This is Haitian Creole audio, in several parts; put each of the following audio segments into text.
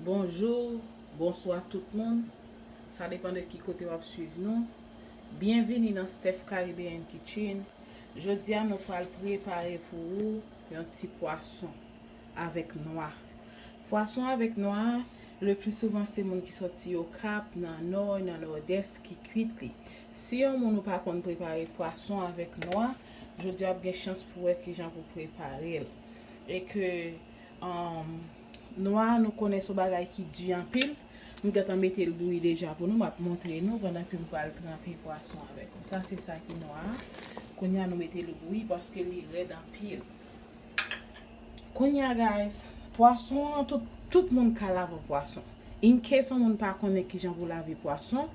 Bonjour, bonswa tout moun, sa depan de ki kote wap swiv nou. Byenvini nan Steph Caribbean Kitchen. Jodia nou pral prepare pou ou yon ti pwason avèk nwa. Pwason avèk nwa, le pli souvan se moun ki soti Okap, nan Nò, nan Nòdès ki kwit li. Si yon moun ou pa konn prepare pwason avèk nwa, jodia wap gen chans pou wè kijan pou prepare'l. E ke Nwa a nou konnen son bagay ki di anpil. M gentan mete l bouyi deja pou nou. M ap montre nou pandan ke m pral tranpe pwason avèk nou. Sa se sa ki nwa a. Kounye a nou mete l bouyi paske li rèd anpil. Kounye a guys, pwason an tout moun ka lave pwason. In case yon moun pa konnen kijan pou lave pwason,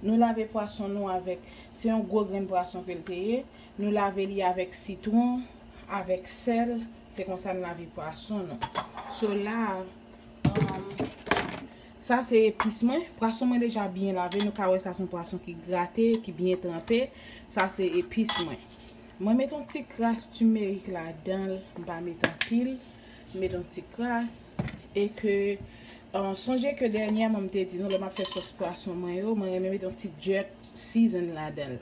nou lave pwason nou avèk, se yon gwo grenn pwason ke l te ye, nou lave li avèk sitwon, avèk sèl. Se konsa n lave pwason nou. So la, sa se epis mwen. Pwason mwen deja byen lave. Nou ka wè sa son pwason ki grate, ki byen tranpe. Sa se epis mwen. Mwen met yon ti kras timerik la dan l. M pa met anpil. M met yon ti kras. E ke, sonje ke dènyèman m te di nou lè m ap fè sòs pwason mwen yo, mwen renmen met yon ti djèp season la dan l.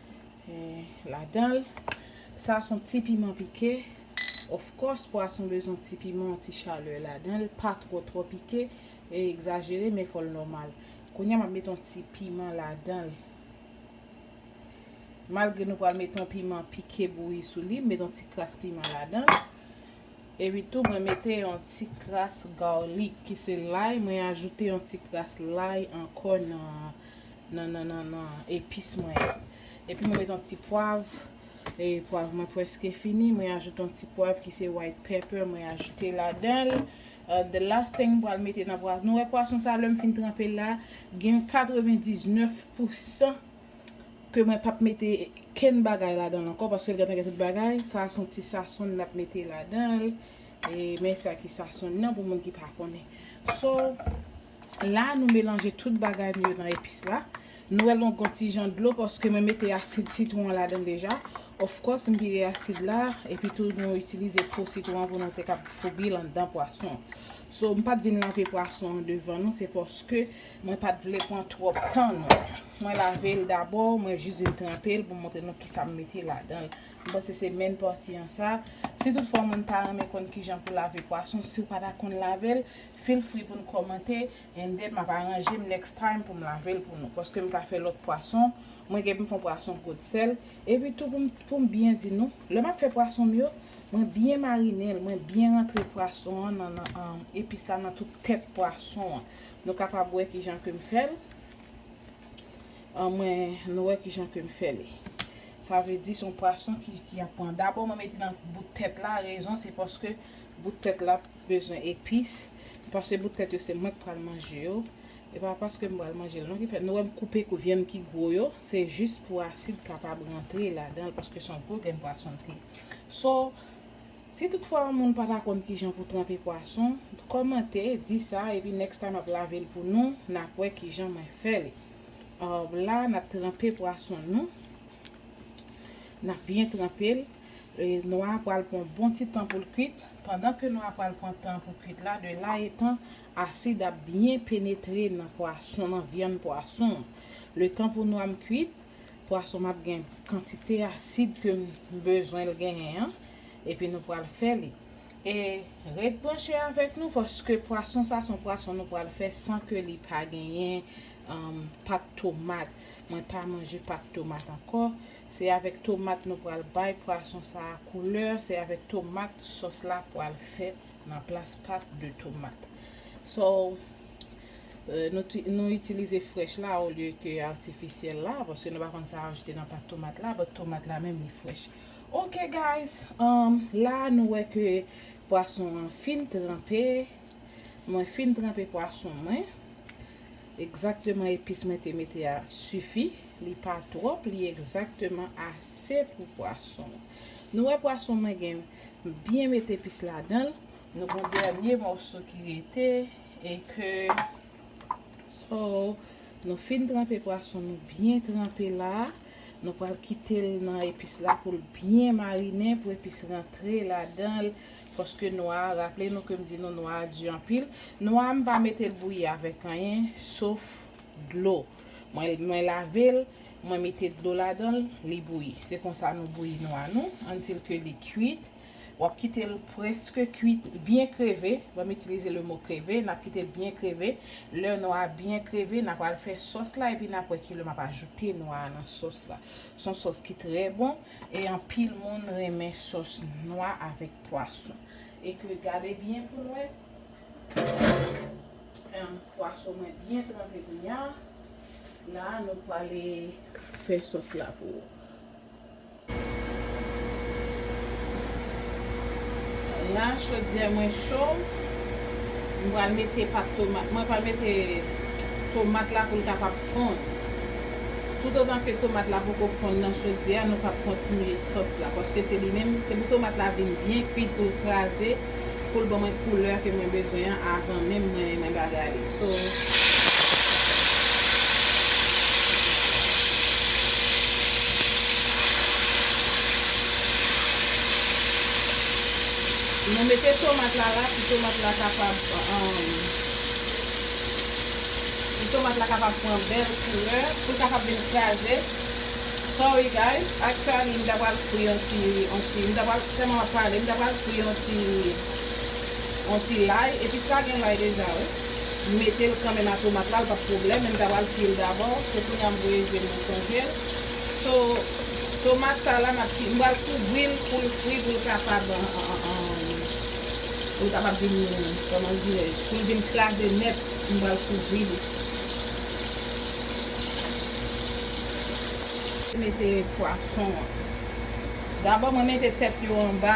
ladan l. Sa son ti piman pike. Of course pwason bezwen ti piman, yon ti chalè ladan l. Pa twò twò pike e egzajere men fò l nòmal. Kounya m ap met yon ti piman ladan l. Malgre nou pral met yon piman pike bouyi sou li, m met yon ti kras piman ladan l. Epi tou mwen mete yon ti kras garlic ki se lay. Mwen ajoute yon ti kras lay ankò nan Nan nan nan nan epis mwen yo. Epi mwen met yon ti pwav. E pwav mwen preske fini. Mwen ajoute yon ti pwav ki se white pepper mwen ajoute ladanl. The last thing m pral mete nan pwason. Nou wè pwason sa lèm fin tranpel la. Gen yon 99 pou 100. Ke mwen pap mete kenn bagay ladanl ankò. Paske l gentan gen tout bagay. Sa a son ti sason nap mete ladanl. E men sa ki sason nan pou moun ki pa konnen. So. La nou melanje tout bagay nou yo nan epis la. Nou wè l gon gon ti jan dlo paske mwen mete asid sitwon an ladan l deja. Of course m vire asid la epi tou nou itilize po sitwon an pou nou te kab foubi l anndan pwason. So m pat vin lave pwason an devan nou se paske mwen pat vle pran twòp tan nou. Mwen lave l dabò, mwen jis vin tranpe l pou m montre nou kisa m mete ladan l. M panse se menn pati an sa. Si tout fwa moun ta renmen konn kijan pou lave pwason si w pa ta konn lave l, Feel free pou nou kòmante and then map aranjem next time pou m lavel pou nou paske m ka fè lòt pwason mwen gen pou m fè yon pwason kot sèl epi tou pou m byen di nou lè map fè pwason m yo mwen byen marinel mwen byen rantre pwason an nan epis la nan tout tèt pwason an nou kapab wè kijan ke m fèl mwen nou wè kijan ke m fèl sa vle di son pwason ki ap pran dabò mwen mete nan bout tèt la rezon se paske bout tèt la. bezwen epis m pase bout tèt yo se mwen k pral manje yo e pa paske m pral manjel non ki fè nou wè m koupe kou vyann ki gwo yo se jis pou asid kapab rantre ladanl paske son gwo grenn pwason l te so si tout fwa yon moun pa ta konn kijan pou tranpe pwason kòmante di sa epi next time ap lavel pou nou nap wè kijan mwen fè li aww la nap tranpe pwason nou nap byen tranpel nwa pral pran bon ti tan poul kwit. Pandan ke nou apral pran tan pou kwit la, de la etan, asid ap byen penetre nan pwason, nan vyann pwason an. Le tan pou nwa m kwit, pwason m ap gen kantite asid ke m bezwen l genyen an, epi nou pral fè li. E ret branche avèk nou paske pwason sa son pwason nou pral fè san ke li pa genyen pat tomat. Mwen pa manje pat tomat ankò. Se avèk tomat nou pral bay pwason sa a koulè, se avèk tomat sòs la pral fèt nan plas pat de tomat. So, nou itilize frèch la olye ke atifisyèl la, paske nou pa konn sa ajoute nan pat tomat la, but tomat la menm li frèch. Ok guys, la a nou wè ke pwason an fin tranpe, mwen fin tranpe pwason mwen. Egzakteman epis mwen te mete a sifi, li pa twòp li egzakteman ase pou pwason. Nou wè pwason mwen gen m byen met epis ladanl. Nou gon dènye mòso ki rete e ke so nou fin tranpe pwason nou byen tranpe la, nou pral kitel nan epis la poul byen marinen pou epis rantre ladanl. Paske nwa a, raple nou ke m di nou nwa a di anpil, nwa a m pa mete l bouyi avèk anyen sof dlo. Mwen lave l, mwen mete dlo ladan l, li bouyi. Se konsa nou bouyi nwa nou, antil ke li kuit. W ap kite l prèske kuit, byen kreve, banm itilize le mo kreve, n ap kite l byen kreve. Lè nwa a byen kreve, n a pral fè sòs la epi n ap wè ki lè m ap ajoute nwa a nan sòs la. S on sòs ki trè bon. E anpil moun renmen sòs nwa avèk pwason. E ke gade byen pou n wè. Pwason mwen byen tranpe kounya. La nou pwale fè sòs la pou ou. La chodyè mwen cho. Mwen pwale mete pat tomat. Mwen pwale mete tomat la pou l kapab Fonn. Toutotan ke tomat la poko fonn nan chodyè a nou pap kontinye sòs la paske se li menm se pou tomat la vin byen kwit poul kraze poul ban mwen koulè ke mwen bezwen an avan menm mwen mwen bagay li so mwen mete tomat la la pou tomat la kapab Pou tomat la kapab pran bèl koulè, poul kapab vin kraze. Sorry guys, actually m ta pral fri yon ti yon ti m ta pral tèlman map pale m ta pral fri yon ti yon ti lay epi sa gen lay deja wi. M metel kanmenm a tomat la l pap pwoblèm men m ta pral fril dabò so kounya m voye je m mwen sonjel. So tomat sa la map ki m pral kouvril poul fri poul kapab poul kapab vin kòman dirèj poul vin kraze nèt. m pral kouvri li. Mete pwason an. Dabò mwen mete tèt yo anba.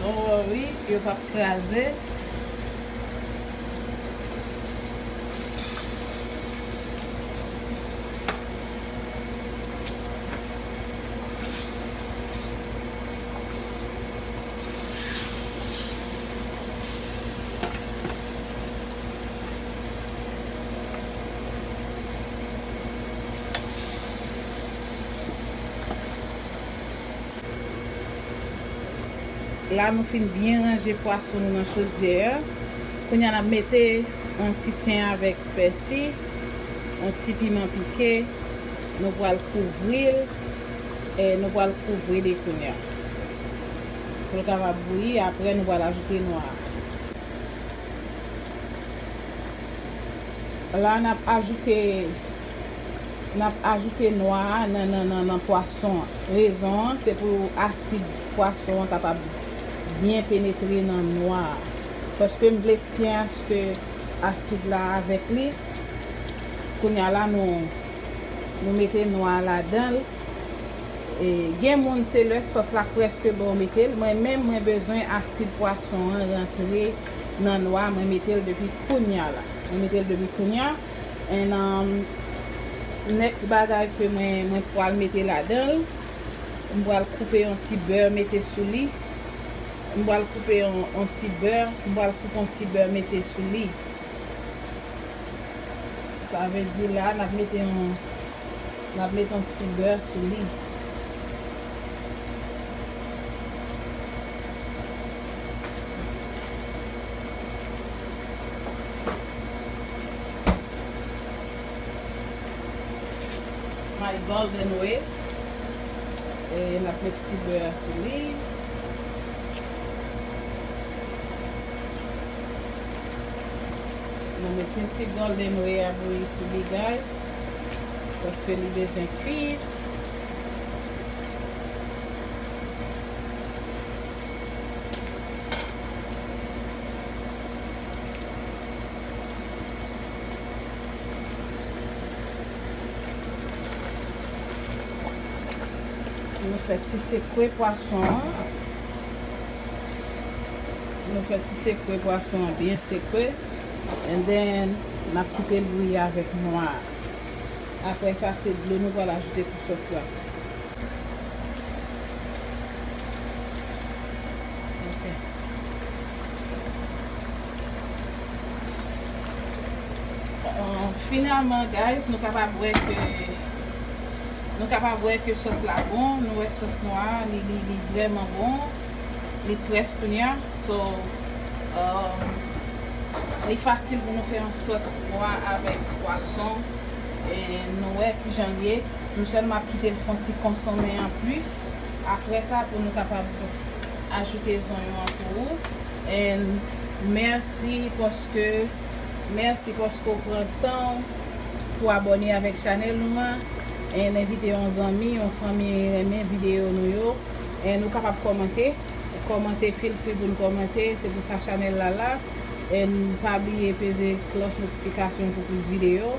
Don't worry, yo pap kraze. La nou fin byen ranje pwason nou nan chodyè a. Kounye a n ap mete yon ti ten avèk pèsi, yon ti piman pike. Nou pral kouvri l, nou pral kouvri li kounye a pou l kapab bouyi. Apre nou pral ajoute nwa a. La n ap ajoute. N ap ajoute nwa a nan pwason an. Rezon an se pou asid pwason an kapab byen penetre nan nwa a. Paske m vle k tyen aske asid la avèk li. Kounye a la nou mete nwa a ladan l. Gen moun se lè sòs la prèske bon yo mete l. Mwen menm mwen bezwen asid pwason an rantre nan nwa a. Mwen mete l depi kounye a la. Mwen mete l depi kounye a. And um, next bagay ke mwen mwen pwal mete ladan l, m pwal koupe yon ti beurre mete sou li. M pwal koupe yon yon ti beurre, m pwal koupe yon ti beurre mete sou li. Sa vle di la n ap mete yon n ap mete yon ti beurre sou li. My golden way e nap met ti bè a sou li. Nou mete ti golden way a bouyi sou li guys. Paske li bezwen kuit. Nou fè ti sekwe pwason an. Nou fè ti sekwe pwason an byen sekwe. And then, n ap kite l bouyi avèk nwa a. Aprè sa, se dlo nou pral ajoute pou sòs la. Finalman guys nou kapab wè ke nou kapab wè ke sòs la bon nou wè sòs nou a li vreman bon li près kounya so li fasil pou nou fè yon sòs pwa avèk pwason nou wè kijan l ye Nou sèlman ap kite l fon ti konsonmen an plis aprè sa pou nou kapab ajoute zonyon an pou ou and mèsi paske mèsi paske ou pran tan ou pou abòne avèk chanèl nou an and envite yon zanmi yon fanmi renmen videyo nou yo and ou kapab kòmante kòmante feel free pou n kòmante se pou sa chanèl la la and pa bliye peze klòch notifikasyon pou plis videyo